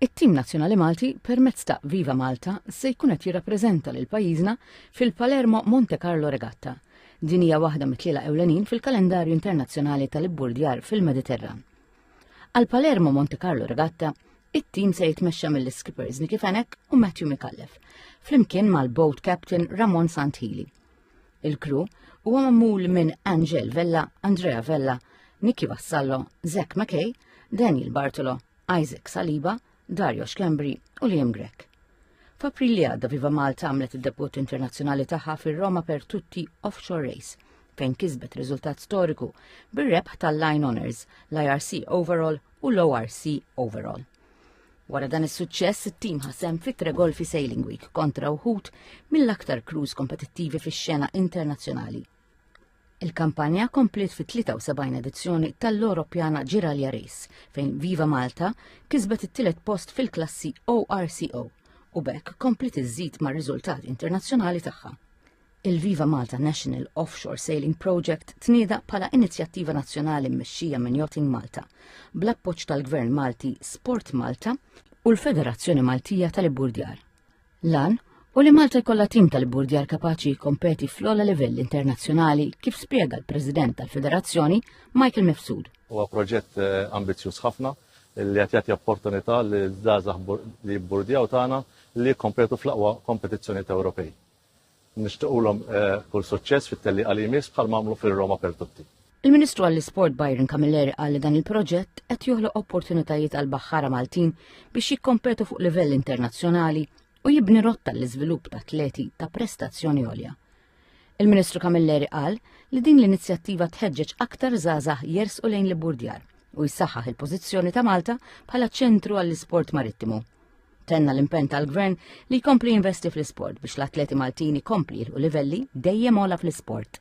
It-tim nazzjonali Malti permezz ta' Viva Malta se jkun qed jirrappreżenta lil pajjiżna fil-Palermo Monte Carlo Regatta. Din hija waħda mit-tliela ewlenin fil-kalendarju internazzjonali tal-ibburdjar fil-Mediterran. Għal Palermo Monte Carlo Regatta, it-tim se jitmexxa mill-skippers Nicky Fenek u Matthew Mikallef, flimkien mal-boat captain Ramon Santili. Il-kru huwa magħmul minn Angel Vella, Andrea Vella, Nicky Vassallo, Zek McKay, Daniel Bartolo, Isaac Saliba, Dario Schembri u Liam Grek. F'April li għadda Viva Malta għamlet id-debut internazzjonali tagħha fir-Roma per tutti offshore race fejn kisbet riżultat storiku bir-rebħ tal-Line Honors, l-IRC Overall u l-ORC Overall. Wara dan is-suċċess, it-tim ħasem fi tre golfi Sailing Week kontra uħud mill-aktar crews kompetittivi fix-xena internazzjonali. Il-kampanja kompliet fit-73 edizzjoni tal-Europjana Ġiralja Race fejn Viva Malta kisbet it-tielet post fil-klassi ORCO u bekk kompliet iżżid mar-riżultat internazzjonali tagħha. il-Viva Malta National Offshore Sailing Project tnieda bħala inizjattiva nazzjonali mmexxija minn Yachting Malta, bl-appoġġ tal-Gvern Malti Sport Malta u l-Federazzjoni Maltija tal-Iburdjar. Lan u li Malta jkollha tim tal-Iburdjar kapaċi jikkompeti fl-ogħla livell internazzjonali kif spjega l-President tal-Federazzjoni Michael Mifsud. Huwa proġett eh, ambizzjuż ħafna li qed jagħti opportunità li żgħażagħ li jibburdjaw tagħna li jikkompetu fl-aqwa kompetizzjonijiet Ewropej. Nixtiequlhom kull suċċess fit-tellieqa li jmiss bħalma għamlu fir-Roma per Tutti. Il-Ministru għall-Isport Byron Camilleri qal li dan il-proġett qed joħloq opportunitajiet għal baħħara Maltin biex jikkompetu fuq livell internazzjonali u jibni rotta l-iżvilupp ta' atleti ta' prestazzjoni għolja. Il-Ministru Camilleri qal li din l-inizjattiva tħeġġeġ aktar żgħażagħ jersqu lejn l-Burdjar u jsaħħaħ il-pożizzjoni ta' Malta bħala ċentru għall-isport marittimu Tenna l-impenn tal-Gvern li jkompli jinvesti fl-isport biex l-atleti Maltini kompli u livelli dejjem ola fl-isport.